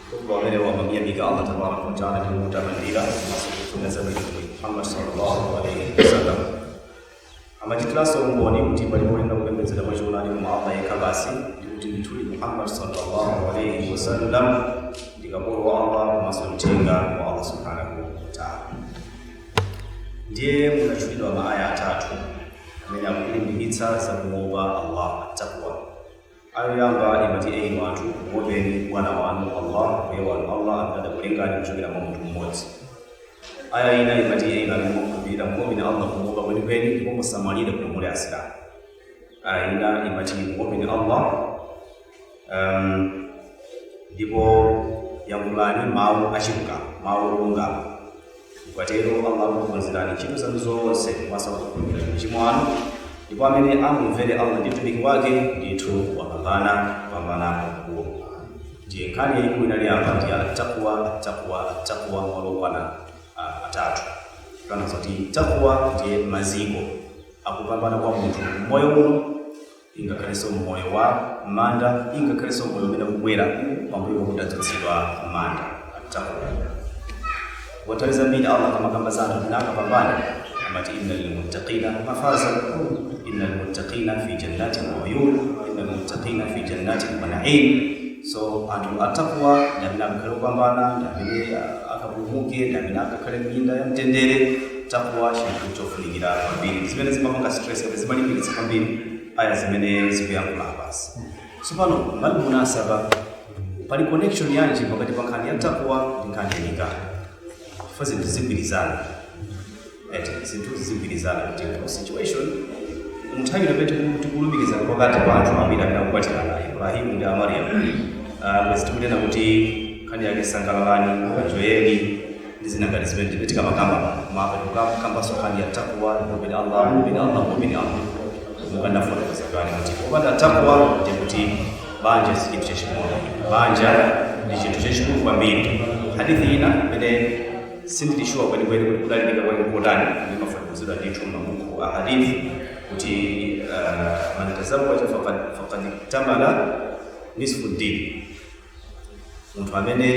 Khutba umenewu amamyamika Allah tabaraka wa taala ndi kumutamandira komanso kufuna zabwino Mtumiki Muhammad sallallahu alaihi wasallam. Amachitiranso umboni kuti palibe woyenera kupembedzedwa mwachoonadi koma Allah yekha basi ndi kuti ndithudi Muhammad sallallahu alaihi wasallam ndi kapolo wa Allah komanso mthenga wa Allah subhanahu wa taala. Ndiye munatchulidwa maaya atatu amene akulimbikitsa za kuopa Allah taqwa Ayah yoyamba imati, Enyi anthu! Muopeni Bwana wanu, Allah, Mbuye wanu, Allah amene adakulengani kuchokera mwa munthu mmodzi. Ayah ina imati, Enyi inu amene mwakhulupirira! Muopeni Allah kumuopa kwenikweni ndipo musamwalire koma muli Asilamu. Ayah ina imati, Muopeni Allah, um, ndipo yankhulani mawu achilungamo, mawu olungama. Mukatero Allah akukonzerani ntchito zanu zonse komanso akukhululukirani machimo anu, ndipo amene amumvere Allah ndi Mtumiki wake ndithu wapambana kupambana kwakukulu. Ndiye nkhani yaikulu inali apa ndi attaqwa, attaqwa, attaqwa malo okwana ah, atatu. Kutanthauza kuti taqwa ndiye maziko akupambana kwa munthu m'moyo uno ingakhalenso m'moyo wa m'manda, ingakhalenso m'moyo umene ukubwera pambuyo pakuti tadzutsidwa m'manda. Attaqwa. Kwa nthawi zambiri Allah akamakamba za anthu amene akapambana amati inna lilmuttaqina mafaza, innal muttaqina fi jannatin wa uyun, innal muttaqina fi jannatin wa na'im. So anthu attaqwa ndi amene akakhale opambana, ndi amene akapulumuke, ndi amene akakhale m'minda ya mtendere. takuwa chinthu chofunikira kwambiri ndi zimene zimapanga stress kuti zimalimbikitsa kwambiri aya zimene zikuyankhula apazi tsopano mbali munasaba pali connection yanji pakati pa nkhani ya takuwa ndi nkhani ya nikah chifukwa zinthu zigwirizana eti zinthu zigwirizana kuti mu situation munthawi imene tiku- tikulumikiza pakati pa anthu awiri amene akukwatirana ibrahimu ndi amariya bwezi tikunena kuti nkhani yake sangalalani kanjoyeni ndi zina ngati zimenezo ndipo tikamakamba pano koma apa tikukambanso nkhani ya takwa muopeni allah muopeni allah muopeni allah monga ndafotokoza kale kuti popanda takwa ndi kuti banja si chinthu chaching'ono banja ndi chinthu chachikulu kwambiri hadithi ina imene sindili shuwa kwenikweni kuti kudalilika kwake kotani imafotokozedwa ndithu m'mabuku a hadithi kuti uh, man tazawaja faqad faqad iktamala nisfu ddin Munthu amene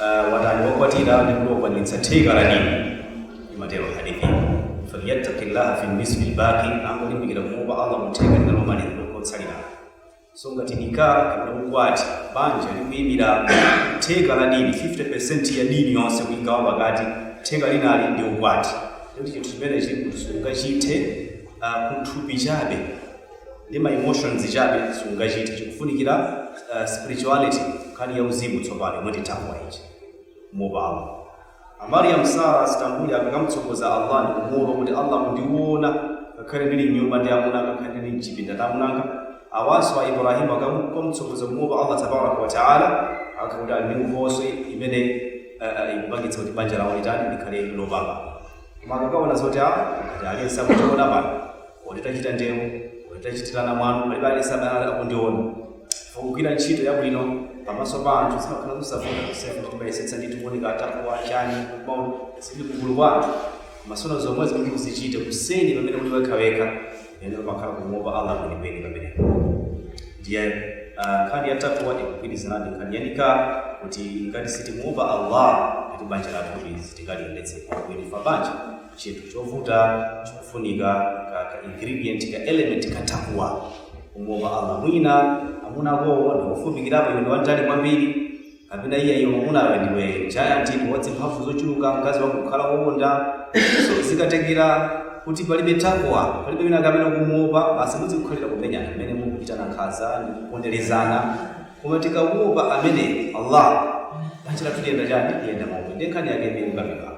uh, watani wakwatira ndi kuti wakwaniritsa theka la dini imatero hadithi falyattaqillaha fi nisfi lbaqi angolimbikira kumuopa allah mutheka linalo lomaliza lotsalira so ngati nikah kapena ukwati banja likuyimira theka la dini 50% ya dini yonse kuigawa pakati theka linali ndi ukwati kuti chinthu chimenechi sungachithe uh, kuthupi chabe ndi ma emotions chabe sungachite chikufunikira spirituality nkhani ya uzimu tsopano yomwe ndi taqwa ija kumuopa Allah a Mariam Sarah Stambuli akamtsogoza Allah ndi kumuopa kuti Allah akundiona ngakhale ndili mnyumba ndi amuna anga ngakhale ndili mchipinda ndi amuna anga awanso a Ibrahim akamtsogoza kumuopa Allah tabaraka wa taala akakuti ali ndi nkhoswe imene uh, ikupangitsa kuti banja lawo litani likhale lopambana koma akakaona zoti a ngati aliyense akutiona pano Or titachita ndewu, or titachitirana mwano, palibe aliyense amene anali akundiona. Chifukwa kugwira ntchito yabwino pamaso pa anthu zimakhala zosavuta kusiyana kuti timayesetsa ndithu kuoneka a taqwa chani kumaona tili kugulu kwa anthu. Koma sono zomwezi kuti uzichite kuseri pamene uli wekhawekha mpamene pamakhala kumuopa Allah kwenikweni pamenepo. Ndiye ah, nkhani ya taqwa ikugwirizana ndi nkhani ya nikah kuti ngati sitimuopa Allah kuti banja lathu ili sitingaliyendetse bwino pa banja Chinthu chovuta chikufunika ka ka ingredient ka element ka taqwa kumuopa Allah mwina amuna akowo ndi ofupikirapo iwe ndi wamtali kwambiri kapena iye iwe mamunawe ndiwe giant iwe wa mphamvu zochuluka mkazi wako kukhala wowonda so zikatengera kuti palibe taqwa palibe wina kapena kumuopa basi muzingokhalira kumenyana mmene mukuchitana nkhanza ndi kuponderezana koma tikamuopa amene Allah banja lathu liyenda chani liyenda momwe ndi nkhani yake ndi ukapikako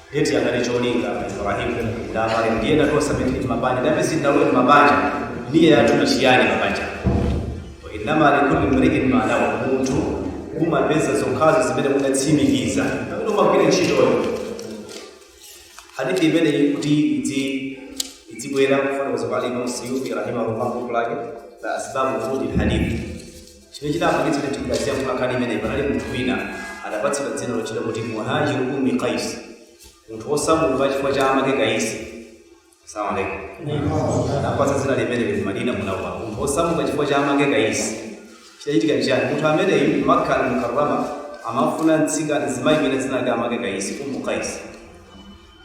Ndiye chinali cholinga a Ibrahim ndi a Mariam ndi ena tonse amene tili m'mabanja ndi amene sitinalowe m'mabanja. Niyya yathu ndi chiyani pabanja? Wa innama likulli mri'in ma nawa, munthu umapeza zokhazo zimene unatsimikiza pamene umagwira ntchitoyo. Hadithi imeneyi kuti idzi idzibwera kufotokoza kwa Imam Suyuti rahimahullah buku lake la Asbabu Wurudil Hadith Chimene chinapangitsa kuti mtumiki adzayankhule nkhani imeneyi, panali munthu wina adapatsidwa dzina lotchedwa kuti Muhajir Ummi Qais, munthu wosamuka chifukwa cha amake Kaisi. Salamu alaikum. Adapatsidwa dzina limeneli ku Madina Munawwara, munthu wosamuka chifukwa cha amake Kaisi. Chidachitika nchiyani? Munthu ameneyu ku Makkah al-Mukarramah amafuna mtsikana mzimayi wina dzina lake amake Kaisi, Ummu Qais.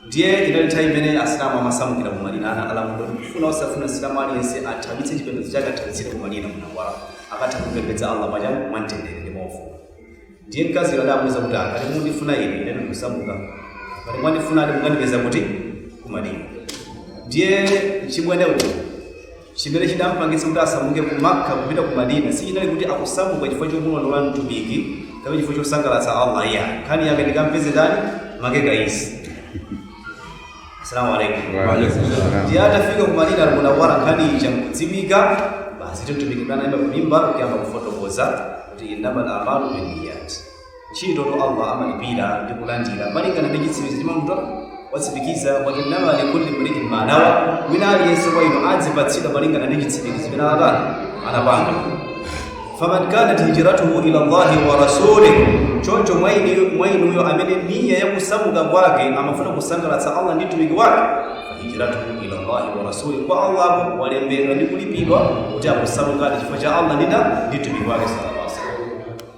Ndiye inali nthawi imene Asilamu amasamukira ku madina linali lamulo ndi kufuna osafuna Msilamu aliyense athawitse chipembedzo chake athawitsire ku madina munawwara akatha kumpembedza Allah mwachani mwamtendere ndi mwaufulu. Ndiye mkaziyo adamuuza kuti, ah, ngati mundifuna ine, ine ndikusamuka. Ngati mwandifunadi mukandipeza kuti? Ku madina. Ndiye mchimwene uyu Chimene chidampangitsa kuti asamuke ku Makka kupita ku Madina sichinali kuti akusamuka chifukwa chomulondola Mtumiki kapena chifukwa chosangalatsa Allah iyayi. Nkhani yake ndikampeze ndani? Make Kaisi. Salamu alaikum. Wa alaikum salam. Ndiye atafika ku Madina al-Munawwara nkhani ija nkudziwika basi Mtumiki anayima ku mimbar kuyamba kufotokoza kuti innamal a'malu binniyat. Ntchitotu Allah amalipira ndi kulandira malingana ndi chitsimikizo chimene munthu watsimikiza. Wa innama likulli mri'in ma nawa, wina aliyense kwa inu adzipatsidwa malingana ndi chitsimikizo chimene anatani anapanga. Faman kanat hijratuhu ila Allahi wa rasulih, choncho mwa inu- mwa inuyo amene niya ya kusamuka kwake amafuna kusangalatsa Allah ndi mtumiki wake hijratuhu ila Allahi wa rasuli, kwa Allah walembedwa ndi kulipidwa kuti akusamukadi chifukwa cha Allah ndi mtumiki wake sallallahu alaihi wasallam.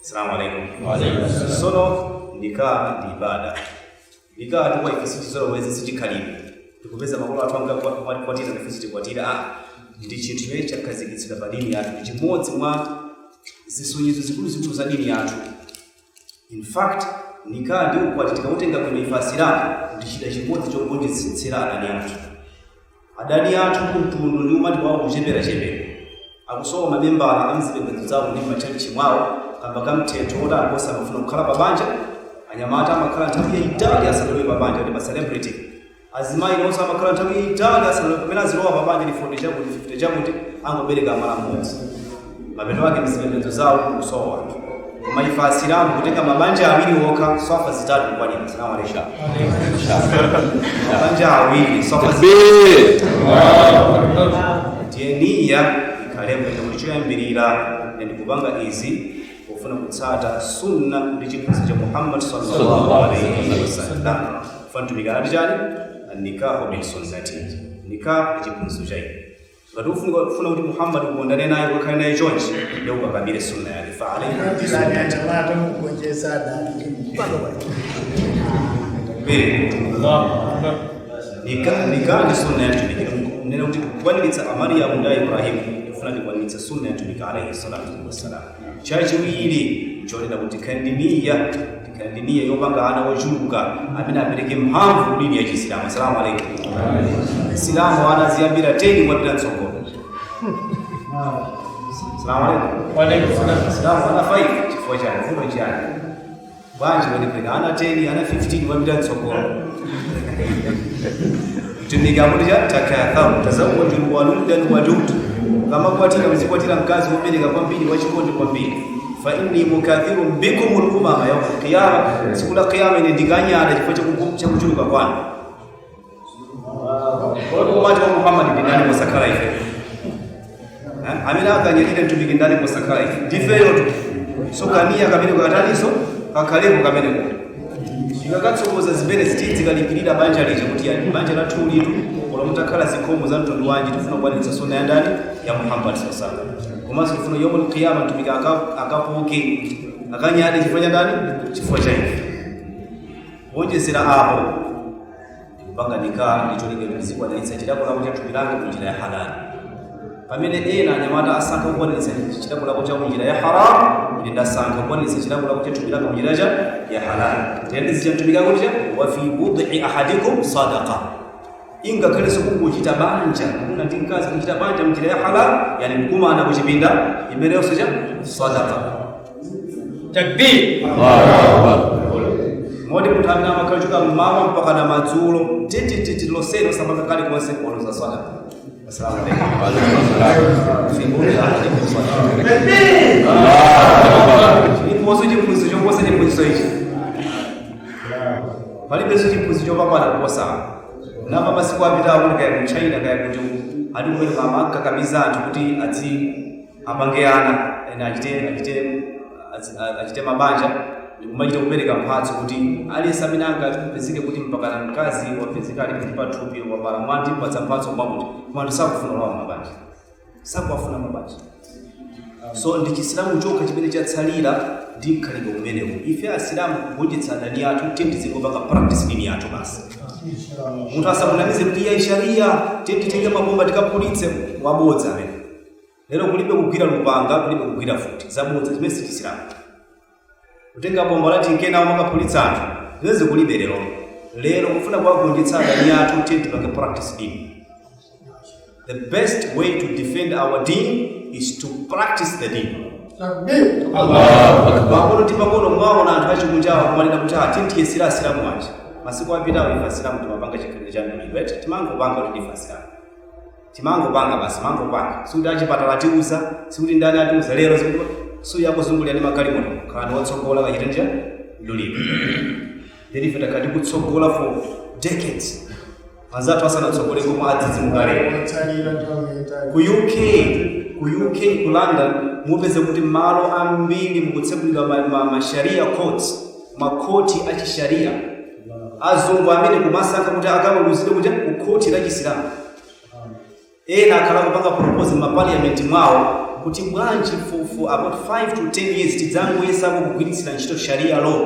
Assalamu alaikum. Sono nikah ndi ibada. Nikah tu kwa ife sichizolowezi sichikhalidwe. Tidapeza makolo athu akukwatira ndife tizikwatira. Ah, ndi chinthu chimene chakhazikitsidwa pa dini yathu. Ndi chimodzi mwa zisonyezo zikuluzikulu za dini yathu. In fact, nikah ndi ukwati tikautenga bwino ife asilamu ndi chida chimodzi chogonjetsera adani athu. Adani athu kumutu ndi umati wawo ukucheperachepera akusowa mamembala m'zipembedzo zawo ndi m'matchalitchi mwawo kamba ka mthetho woti anthu sakufuna kukhala pabanja, anyamata amakhala nthawi yaitali asanalowe pabanja ndi ma celebrity, azimayi nawonso amakhala nthawi yaitali asanalowe pamene azilowa pabanja ndi 40 chakuti, 50 chakuti, angobereka mwana mmodzi. mapeto ake m'zipembedzo zawo kusowa anthu koma ife asilamu kutenga mabanja awiri okha swafa zitatu kukwanira salamu alaikum mabanja awiri swafa zitatu ndiye niya ikhalepo yonena kuti choyambirira ine ndikupanga izi pofuna kutsata sunna ndi chiphunzitso cha muhammad sallallahu alaihi wasallam pamene mtumiki anati chani nikahu min sunnati nikah ndi chiphunzitso cha ine Ngati ukufuna kuti Muhammad ukondane naye ukakhale naye chonchi ndiye ukakamire sunna yake fa alayhi bi Anapita sunnati anyanyamala atamugonjetsa adani ndi mpaka pano. Mbiri. Nikah nikah ndi sunna ya mtumiki kunena kuti kukwatiritsa a Mariyamu kwa a Ibrahim ndikufuna tikwaniritse sunna ya mtumiki alayhi salatu wassalam chachiwiri chonena kuti khala ndi niya khala ndi niya yopanga ana ochuluka amene apereke mphamvu kudini ya chisilamu asalamu alaikum msilamu ana aziyambira 10 kumapita mtsogolo salamu alaikum msilamu ana 5 chifukwa chani vuto chani Bwanji mwabereka ana 10, ana 15 kumapita mtsogolo. Mtumiki akuti chani takatharu tazawwaju waludan wadud. Mukamakwatira mzikwatira mkazi wobereka kwambiri wachikondi kwambiri. Fa inni mukathirun bikum al-umama yawm al-qiyama. Tsiku la kiyama ine ndikanyadira chifukwa cha kuchuluka kwanu. Kodi ummati wa Muhammad ndi ndani posakhala ife? Eh, Amene akanyadire mtumiki ndani posakhala ife? Ndifeyotu. So kaniya kamene katatunso kakhalepo kamene kuti. Tikakatsogoza zimene ziti zikalimbirira banja lija kuti ya banja la tulitu ola mutakhala zikhomo za mtundu wanji tifuna kukwaniritsa sunna ya ndani ya Muhammad sallallahu alaihi wasallam. Komanso tifuna yomul qiyama mtumiki aka- akapoke akanyade chifukwa cha ndani? Chifukwa cha ife. Wonjezera apo kupanga nikah ndi cholinga kuti ndizikwanitsa chilakolako cha thupi langa mu njira ya halali pamene ena anyamata asankha kukwanitsa chilakolako cha munjira ya haramu ine ndasankha kukwanitsa chilakolako cha thupi langa mu njira ya halali tiye ndizichita mtumiki akuti chani wa fi bud'i ahadikum sadaqa ingakhalenso kukuchita banja kugona ndi mkazi kuchita banja mnjira ya halal yani kukumana kuchipinda imeneyonso chani sadaka takbir moti munthu amene amakhala kuchoka mmawa mpaka na madzulo titititi losero sabaka khale konse kuonoza swala Assalamu alaikum. Chiliponso chiphunzitso choposa chiphunzitso ichi palibenso chiphunzitso chopambana kuposa apa masiku apitawo kuti kaya ku China kaya kuti ati kumene akumakakamiza anthu kuti adzi apange ana ana achite achite azi- a- achite mabanja ndikumachita kupereka mphatso kuti aliyense amene angapezeke kuti mpakana mkazi wapezeka ali kuti pathupi wabala mwana timpatsa mphatso mwakuti koma anthu sakufuna kulowa mabanja sakuwafuna mabanja so ndi chisilamu chokha chimene chatsalira ndi mkhalidwe umenewu ife asilamu kugonjetsa adani athu tiye tizingopanga practice dini yathu basi munthu asamunamize kuti iyayi sharia tiye titenge mabomba tikaphulitse wabodza amene Lero kulibe kugwira lupanga, kulibe kugwira mfuti. Zabodza, zimene si Chisilamu. Kutenga bomba lathu n'kuyenda umakaphulitsa anthu, zimenezi kulibe lero. Lero kufuna kuwagonjetsa adani athu, tiye tipange practice deen. The best way to defend our deen is to practice the deen. Pang'ono ndi pang'ono mwaona anthu achikunjawa kumanena kuti ah, tiye tiyesere Asilamu aja. Masiku apitawo ife Asilamu timapanga chikhalidwe cha mdulidwe, eti timangopanga kuti ndife Asilamu. Timangopanga basi, mangopanga. Sikuti achipatala atiuza, sikuti ndani atiuza lero ndi kuti suyo akuzungulira ndi magalimoto. Khalani otsogola kachiteni cha mdulidwe. Then ife takhala tikutsogola for decades. Anzathu asanatsogole koma adzidzimuka lero. Otsalira nthawi yaitali. Ku UK, ku UK, ku London mupeze kuti malo ambiri mukutsegulidwa ma, ma, ma sharia courts, makhoti a chisharia azungu amene akumasankha kuti akaweruzidwe ku khoti la chisilamu ena akhala kupanga propose m'mapaliyamenti mwawo kuti bwanji for, for about 5 to 10 years tidzangoyesako kugwiritsira ntchito sharia law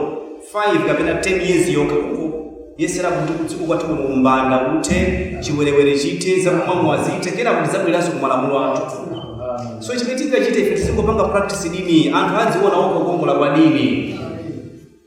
5 kapena 10 years yokha kungoyesera kuti kudziko kwathu kuno umbanda kuthe chiwerewere chithe zakumwamwa zithe kenako tidzabwereranso kumalamulo athu so chimene tingachite ife tizingopanga practice dini anthu adziona okha kukongola kwa dini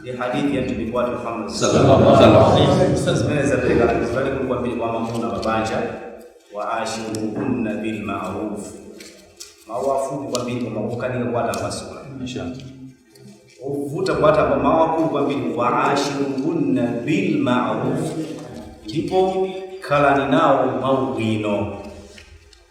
ndi hadithi ya mtumiki wathu Muhammad Sallallahu alaihi wasallam. Zimene zapereka langizo lalikulu kwambiri kwa amuna mabanja wa ashiruhunna bil ma'ruf mawu afupi kwambiri koma kukanika kuwatambasula Inshallah. ovuta kuwatamba mawu afupi kwambiri wa ashiruhunna bil ma'ruf ndipo khalani nawo mwaubwino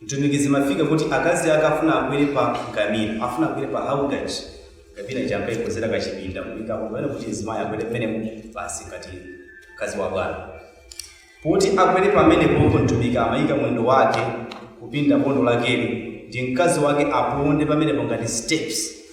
Mtumiki zimafika kuti akazi ake afuna akwere pa ngamira, afuna akwere pa haudaj, ngamira ija ankaikonzera kachipinda kuika mokwana kuti mzimayi akwere mmenemo basi ngati mkazi wa bwana. Poti akwere pamenepopo Mtumiki amaika mwendo wake kupinda bondo lakeli kuti mkazi wake aponde pamenepo ngati steps.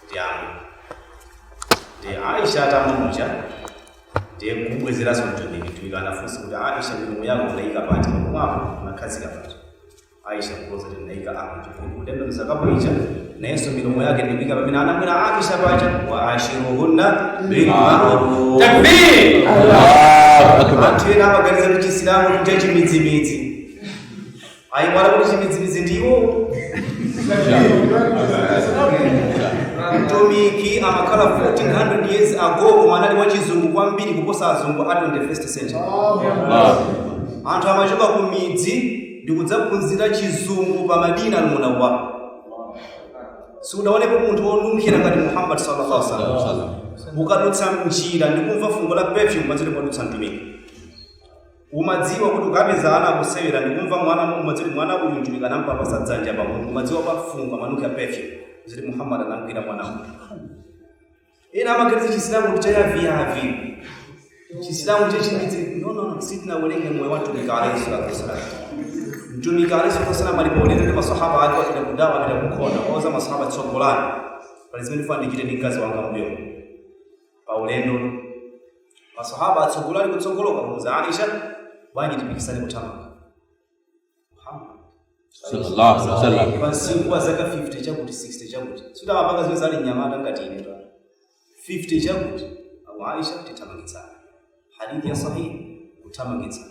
kuti amwe ndi aisha atamuja ndiye mkubwezeranso mtumiki mtumiki anafunsa kuti aisha milomo yako unaika pati pakumwapo unakhazika pati aisha kuloza kuti ndinaika apo ndiye kutembenuza kapu ija nayenso milomo yake ndikuika pamene anamwera aisha paja wa ashiruhunna bilmaruf takbir Allahu Akbar. anthu ena amaganiza kuti chisilamu ndi chimidzimidzi Ayiwala kuti achimidzimidzi ndiwo mtumiki amakhala 1400 years ago koma anali wachizungu kwambiri kuposa azungu a 21st century anthu amachoka ku midzi ndi kudzaphunzira chizungu pa madina almunawwara sindidaonepo munthu wonunkhira ngati muhammad sallallahu alaihi wasallam ukadutsa mnjira ndi kumva fungo la perfume umadziwa kuti padutsa mtumiki Umadziwa kuti ukapeza ana akusewera ndikumva mwana umadziwa kuti mwana uyu Mtumiki anamupapasa dzanja pa mutu umadziwa pa fungo amanunkhira perfume udziti Muhammad anamugwira mwana uyu. Ena amaganiza chisilamu ndi chayaviyavi. Chisilamu chachimidzi no no no sitinawerenge moyo wa Mtumiki alayhi salatu wasalam. Mtumiki alayhi salatu wasalam ali pa ulendo ndi masahaba ake wapita kudawa apita kunkhondo wauza masahaba tsogolani pali zimene ndifuna ndichite ndi mkazi wanga mbuyo. pa ulendo masahaba atsogola ali kutsogoloko amuuza aisha bwanji tipikisane kuthamanga Muhammad. Sallallahu alaihi wasallam. munthu wa zaka 50 chakuti 60 chakuti samapanga zimenezo ali nyamata ngati ine ta 50 chakuti akuti aisha tithamangitsane hadithi ya sahihi kuthamangitsana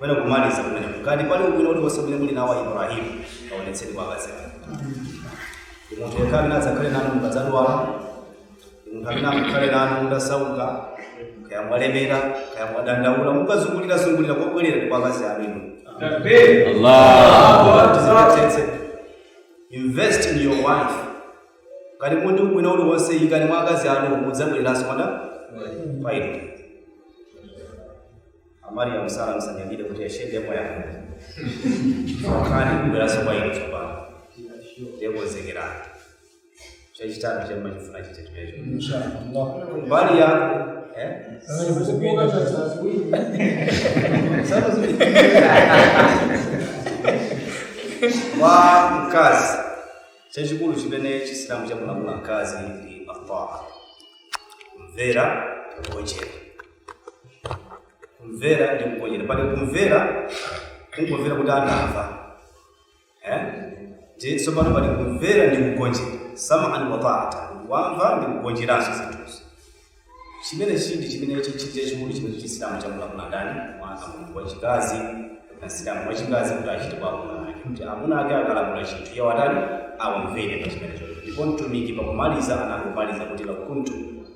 Pena kumaliza kumene ngati pali ubwino uliwonse umene muli nawo Ibrahim aonetseni kwa akazi anu. Munthu yekha amene adzakhale nanu mukadzadwala, munthu amene adzakhale nanu mutasauka, kaya mwalemera, kaya mwadandaula, mukazungulira zungulira kobwerera ndi kwa akazi anu inu. Allah. Tizipatsetse. Invest in your wife. Ngati muli ndi ubwino uliwonse ikani mwa akazi anu mudzabwereranso mada. Faida. amariyamu sara musanyadire kuti yashendemo yangu chifukwa ndikubweranso kwa inu tsopano nde konzekerani chachitatu chemba chifuna chite chimecho mbali yako eh? kwa mkazi chachikulu chimene chisilamu chamulamula mkazi ndi mafaha kumvera kugonjera kumvera ndi kugonjera pali kumvera kungomvera kuti anamva eh? ndi tsopano pali kumvera ndi kugonjera sam'an wa taata wamva ndi kugonjeranso zinthuzo chimene chindi chimene chichiti chachikulu chimene chisilamu chamulamula ndani mwana munthu wachikazi msilamu wachikazi kuti achite kwa amuna ake kuti amuna ake akalamula chinthu iye awatani awamvere pa chimenecho ndipo mtumiki pakumaliza anangomaliza kuti lau kuntu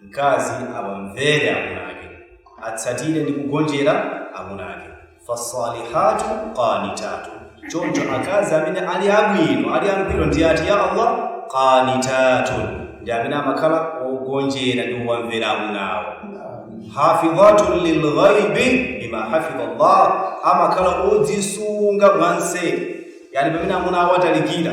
mkazi awamvere amuna ake atsatire ndi kugonjera amuna ake fasalihatu qanitatu choncho akazi amene ali abwino ali angwiro ndi ati ya allah qanitatu ndi amene amakhala ogonjera ndi kuwamvera amuna awo hafidhatun lilghaibi bima hafidha Allah, amakhala odzisunga mwanseri. Yani pamene amuna awo atalikira,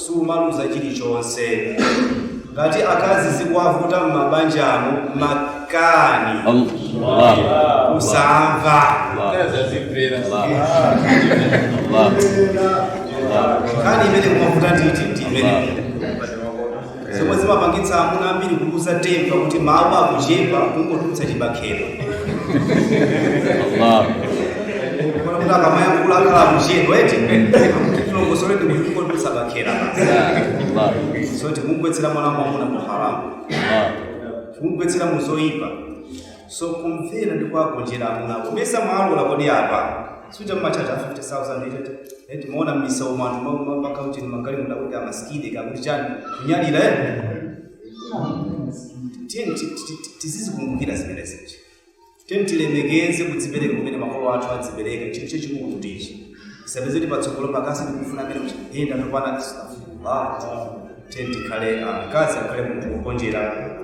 sumaluza chilichonse. Ngati akazi zikuwavuta m'mabanjamo makani Allah. kusamva nkhani imene kumavuta nditi ndi imene zomwe zimapangitsa amuna ambiri kuluza tempa kuti mawu akuchepa kungotulutsa chibakera Allah. Kuona kuti akamayankhula akhala akuchepa eti tilongosole ndi kuti kungotulutsa bakera basi Allah. so tikumgwetsera mwana mwamuna mu haramu Allah. kumgwetsera mu zoyipa so kumvera ndi kuwagonjera amuna kumesa mwalola kodi apa suita mumatchaja 50000 itete eti muona mmisa umanu makautini magali mudakuti amasikide kakuti chani kunyalira eh tiyeni ti- ti- ti- tizizikumbukira zimenezi tiyeni tilemekeze kudzipereka kumene makolo athu adzipereka chinthu chachikulu kuti ichi isapezeke patsogolo pakasi ndikufuna amene kuyenda nopana astaghfirullah tiyeni tikhale akazi akhale munthu wogonjera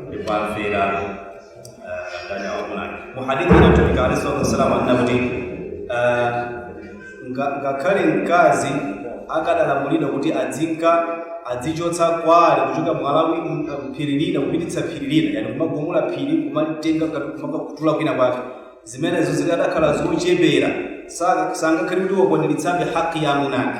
ndipo amvera mu hadithi ya mtumiki alayhi salatu wassalam anena kuti eh, nga- ngakhale mkazi akadalamulidwa kuti adzinka adzichotsa kwale kuchoka mwalawi m- mphiri lina kupititsa phiri lina yani kumagumula phiri kumatenga ngati kumakatula kwina kwake zimenezo zikadakhala zochepera Saka- sangakhale kuti wakwaniritsabe haki ya amunake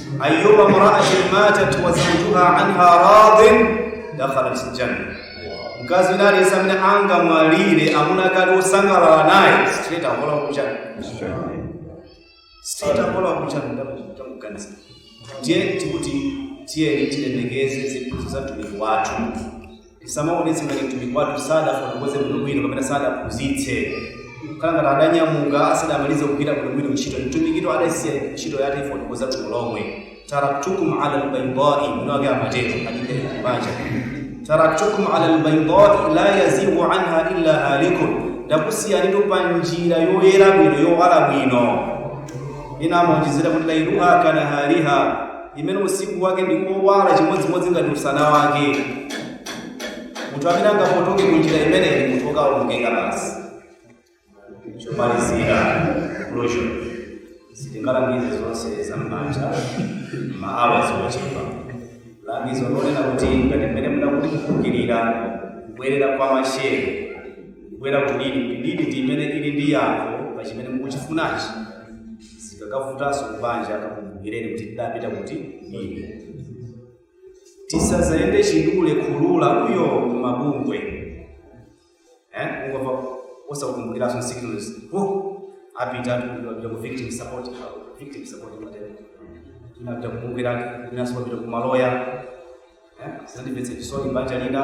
ayyuma imra'atin matat wa zawjuha anha radin dakhalat aljanna mkazi wina aliyense amene angamwalire amunake ali osangalala naye straight akalowa ku janna straight akalowa ku janna ndakuganiza ndiye tikuti tiyeni tilemekeze zinthu za mtumiki wathu tisamaonetse ngati mtumiki wathu sadafotokoze bwinobwino kapena sadaphunzitse kukhala ngati adanyamuka asadamalize kugwira bwinobwino ntchito mtumikitu adasiya ntchito yake yofotokoza bwino lomwe taraktukum ala lbaidai mwiniwake amatero hadithi paja taraktukum ala lbaidai la yazigu anha illa halikun ndakusiyanitu pa njira yoyera bwino yowala bwino ina amaonjezera kuti lailuha kanahariha imene usiku wake ndi owala chimodzimodzi ngati usana wake. Munthu amene angapotoke ku njira imeneyi ndi munthu wokawonongeka basi. Chomalizira closure sitingalangize zonse za m'banja maawa ochepa. Langizo lonena kuti ngati mmene munakuti kukumbukira kubwerera kwa mashehe kubwera kudini kudini ndi imene ili ndi yankho pa chimene mukuchifunachi. zikakavutanso kubanja kakumbukireni kuti tidapita kuti kudini tisazayende chidule khulula uyo kumabungwe eh ungomva osakumbukiranso signals oh apita apita ku victim support victim support matenda inapita kumbukira enanso apita kumaloya eh zandimvetsa chisoni banja lina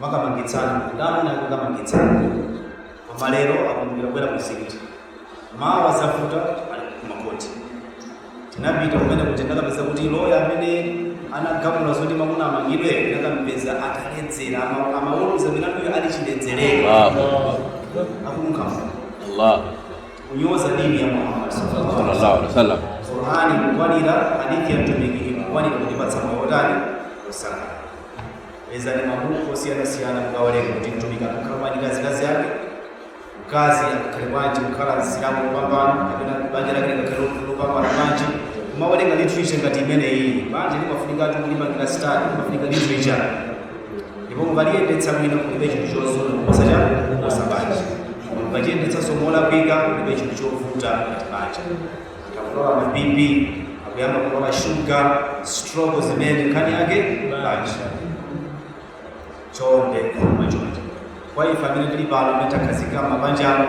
makamangitsana ndi amuna kukamangitsana koma lero akumbukira kubwera kumzikiti mawa zavuta ali kumakoti tinapita kumene kuti ndakapeza kuti loya amene anagamula zoti mamuna amangidwe ndakampeza ataledzera ama- amaweruza milanduyo ali chiledzerere Allahu akumukama Allah kunyoza dini ya muhammad sallallahu alaihi wasallam qurani kukwanira hadithi ya mtumiki kukwanira kutipatsa maotani osaka Pezani mabuku osiyanasiyana mukawerenga kuti mtumiki amakhala bwanji ndi azikazi ake, mkazi akakhale bwanji kukhala msilamu wopambana kapena banja lake likakhale lopambana bwanji. Kumawerenga literature ngati imeneyi, banja limafunikatu kulipangira study, limafunika literature ndipo mukaliyendetsa bwino kulibe chinthu chozuna kuposa cha kuposa banja. Mukachiyendetsanso molakwika kulibe chinthu chovuta ngati banja. akulowa ma bp akuyamba kulowa shuga stroko zimene nkhani yake banja chonde koma chonde kwa ife amene tili pano amene takhazikika mabanjano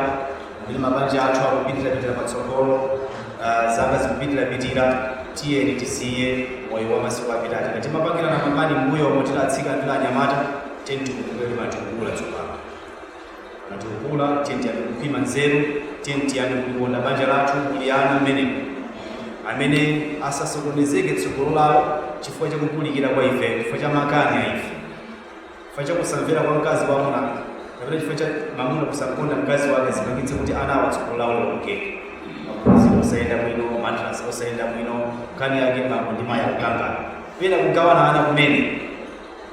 amene mabanja athu akupitirapitira patsogolo ah, zaka zikupitirapitira tiyeni tisiye moyo wa masiku apitachi ngati mapangirana mambali mbuyomu tili atsikana tili anyamata tiyeni tikule takula tsopano Ngati takula, tiyeni tiyambe kupima nzeru, tiyeni tiyambe kulikonda banja lathu muli ana mmenemo, amene asasokonezeke tsogolo lawo chifukwa cha kupulikira kwa ife, chifukwa cha makani a ife, chifukwa cha kusamvera kwa mkazi wa amuna, kapena chifukwa cha mamuna kusamkonda mkazi wake, zipangitse kuti ana awo tsogolo lawo lionongeke. Maphunziro osayenda bwino, madrasa osayenda bwino, nkhani yake bambo ndi mayi akukangana, pena kugawana ana kumene